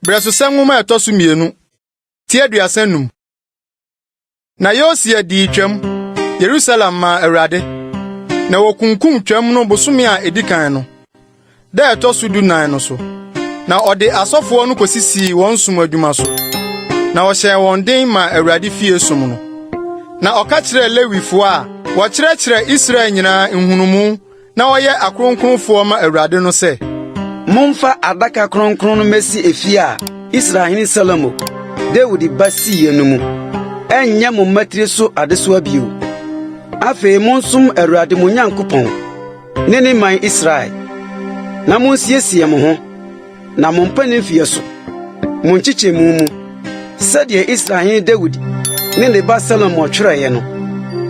Brɛsosɛm nwoma a ɛtɔ so mmienu ti aduasa num. Na Yosia dii twam Yerusalem maa Awurade, na wɔkunkum twam no bosome a edi kan no. da ɛtɔ so dunan no so, na ɔde asɔfoɔ no kɔsisii wɔn som adwuma so, na ɔhyɛɛ wɔn den maa Awurade fie som no. Na ɔka kyerɛɛ Lewifoɔ a wɔkyerɛkyerɛ Israel nyinaa nhunumu na wɔyɛ akronkronfoɔ ma Awurade no sɛ, Momfa adaka kronkron no mmɛsi efie a Israel hene Salomo, Dawid ba siiɛ no mu. Ɛnyɛ mo mmatiri so adesoa bio. Afei monsom Awurade mo Nyankopɔn. ne ne man Israel, na munsiesie mo ho, na mompɛ ne mfeɛ so, mo nkyekyɛmu mu, sɛdeɛ Israel hene Dawid ne ne ba Salomo twerɛeɛ no,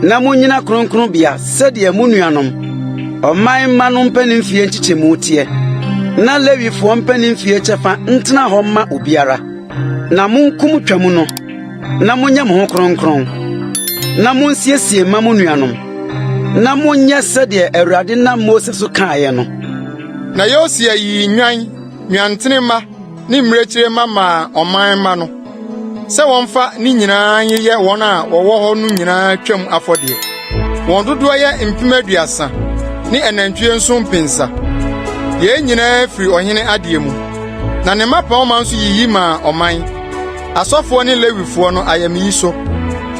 na monnyina kronkronbea sɛdeɛ mo nuanom ɔman mma no mpanin mfeɛ nkyekyɛmu teɛ, na Lewifoɔ mpanin mfeɛ kyɛfa ntena hɔ mma obiara. Na monko mo Twam no, na monyɛ mo ho kronkron, na munsiesie mma mo nuanom, na monyɛ sɛdeɛ Awurade nam Mose so kaeɛ no. Na Yosia yii nnwan, nnwantene mma ne mmirekyire mma maa ɔman mma no sɛ wɔmfa ne nyinaa nyeyɛ wɔn a wɔwɔ hɔ no nyinaa Twam afɔdeɛ. Wɔn dodoɔ yɛ mpem aduasa ne anantwie nso mpensa. Yei nyinaa firi ɔhene adeɛ mu. Na ne mmapɔmma nso yiyi maa ɔman, asɔfoɔ ne Lewifoɔ no ayamyi so.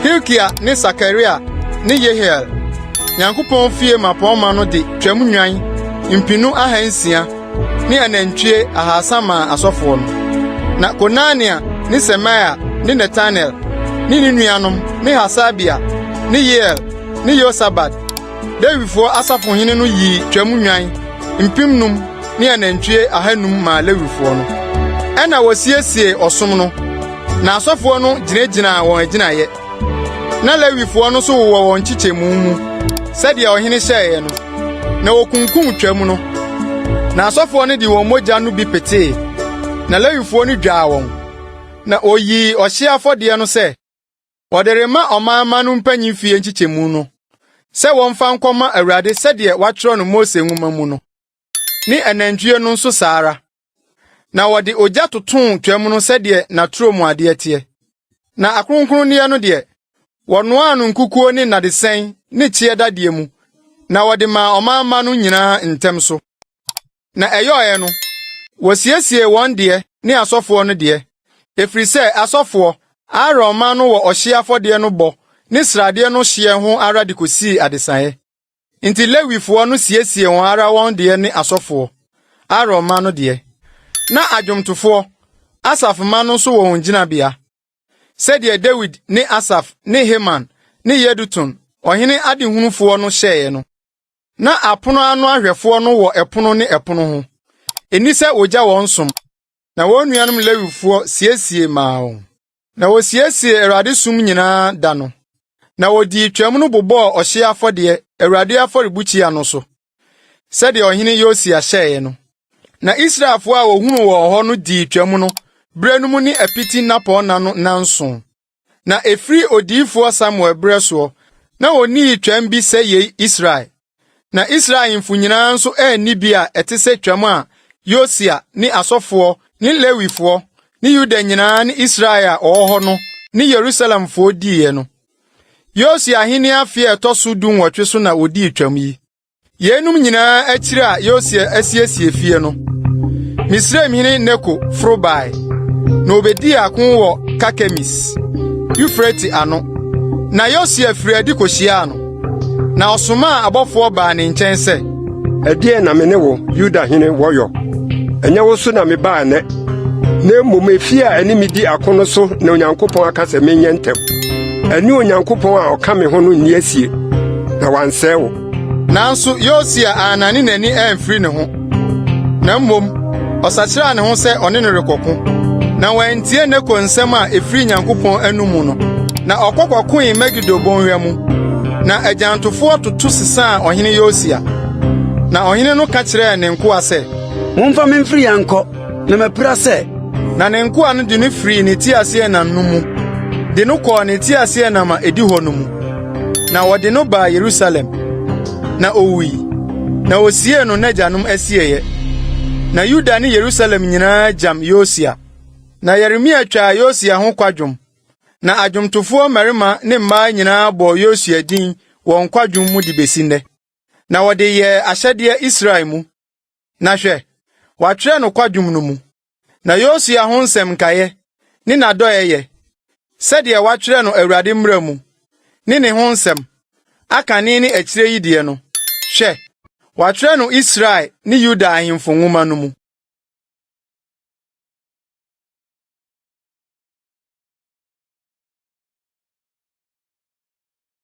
Hilkia ne Sakaria ne Yehiel, Nyankopɔn fie mmapɔmma no de twam nnwan mpenu ahansia ne anantwie ahasa maa asɔfoɔ no. Na Konania ne Semaia ne Netanel ne ne nuanom ne Hasabia ne Yeiel ne Yosabad Lewifo asafohene no yii twam nnwan mpemnum ne anantwie ahanum maa Lewifoɔ no. Ɛnna wɔsiesiee ɔsom no, na asɔfoɔ no gyinagyinaa wɔn agyinaeɛ. Na Lewifoɔ no nso wowɔ wɔn nkyekyɛmu mu sɛdeɛ ɔhene hyɛeɛ no, na wɔkunkum twam no. Na asɔfoɔ no de wɔn mogya no bi petee, na Lewifoɔ no dwaa wɔn, na wɔyii ɔhyeɛ afɔdeɛ no sɛ Wɔde rema ɔmanmma no mpanyin fie nkyekyɛmu no sɛ wɔmfa nkɔma Awurade sɛdeɛ wɔatwerɛ no Mose nwoma mu no, ne anantwie no nso saa ara. Na wɔde ogya totoo twam no sɛdeɛ n'aturo mu adeɛ teɛ. Na akronkronneɛ no deɛ, wɔnoaa no nkukuo ne nnadesɛn ne kyeɛ dadeɛ mu, na wɔde maa ɔmanmma no nyinaa ntɛm so. Na ɛyɔeɛ no, wɔsiesiee wɔn deɛ ne asɔfoɔ no deɛ, ɛfiri sɛ asɔfoɔ, Aaron mma no wɔ ɔhyeɛ afɔdeɛ no bɔ ne sradeɛ no hyeɛ ho ara de kɔsii adesaeɛ. Enti Lewifoɔ no siesiee wɔn ara wɔn deɛ ne asɔfoɔ, Aaron mma no deɛ. Na adwomtofoɔ, Asaf mma no nso wɔ wɔn gyinabea, sɛdeɛ Dawid ne Asaf ne Heman ne Yedutun, ɔhene adehunufoɔ no hyɛeɛ no. Na apono ano ahwɛfoɔ no wɔ ɛpono ne ɛpono ho. Ɛni sɛ wɔgya wɔn som, na wɔn nuanom Lewifoɔ siesie maa wɔn. Na wɔsiesie Awurade som nyinaa da no, na wɔdii Twam no bobɔɔ ɔhyeɛ afɔdeɛ Awurade afɔrebukyia no so, sɛdeɛ ɔhene Yosia hyɛeɛ no. Na Israelfoɔ a wɔhunu wɔn hɔ no dii Twam no berɛ no mu ne apiti nnapɔnna no nnanson. Na ɛfiri odiyifoɔ Samuel berɛ soɔ, na ɔnnii twam bi sɛ yei Israel. Na Israel ahemfo nyinaa nso anni bi a ɛte sɛ twam a Yosia ne asɔfoɔ ne Lewifoɔ ne Yuda nyinaa ne Israel a ɔwɔ hɔ no ne Yerusalemfoɔ diiɛ no. Yosia ahenni afe a ɛtɔ so dunwɔtwe so na ɔdii twam yi. Yeinom nyinaa akyiri a Yosia asiesie fie no, Misraim hene Neko foro bae, na obedii ako wɔ Karkemis, Eufrate ano. Na Yosia firi adi kohyiaa no, na ɔsomaa abɔfoɔ baa ne nkyɛn sɛ, Ɛdeɛn na me ne wo, Yuda hene, wɔ yɔ? Ɛnyɛ wo so na mebaa nnɛ, na mmom efie a ɛne me di ako no so na Onyankopɔn aka sɛ menyɛ ntɛm. Ɛne Onyankopɔn a ɔka me ho no nni asie, na wansɛe wo. Nanso Yosia annane n'ani amfiri ne ho, na mmom ɔsakyeraa ne ho sɛ ɔne no rekɔko. Na wantie Neko nsɛm a ɛfiri Nyankopɔn anom no, na ɔkɔ kɔkoe Megido bɔnhwa mu. Na agyantofoɔ toto sesaa ɔhene Yosia. Na ɔhene no ka kyerɛɛ ne nkoa sɛ, Momfa me mfiri ha nkɔ, Na mapira sɛ, na ne nkoa no de no firii ne teaseɛnam no mu de no kɔɔ ne teaseɛnam a edi hɔ no mu, na wɔde no baa Yerusalem, na owui, na wosiee no n'agyanom asieeɛ. Na Yuda ne Yerusalem nyinaa gyam Yosia. Na Yeremia twaa Yosia ho kwadwom, na adwomtofoɔ mmarima ne mmaa nyinaa bɔɔ Yosia din wɔn kwadwom mu de besi nnɛ, na wɔde yɛɛ ahyɛdeɛ Israel mu. Na hwɛ, wɔatwerɛ no kwadwom no mu, na Yosua ho nsɛm nkaeɛ ne n'adɔeɛyɛ, sɛdeɛ wɔatwerɛ no Awurade mmara mu, ne ne ho nsɛm, akane ne akyire yi deɛ no, hwɛ, wɔatwerɛ no Israel ne Yuda ahemfo nwoma no mu.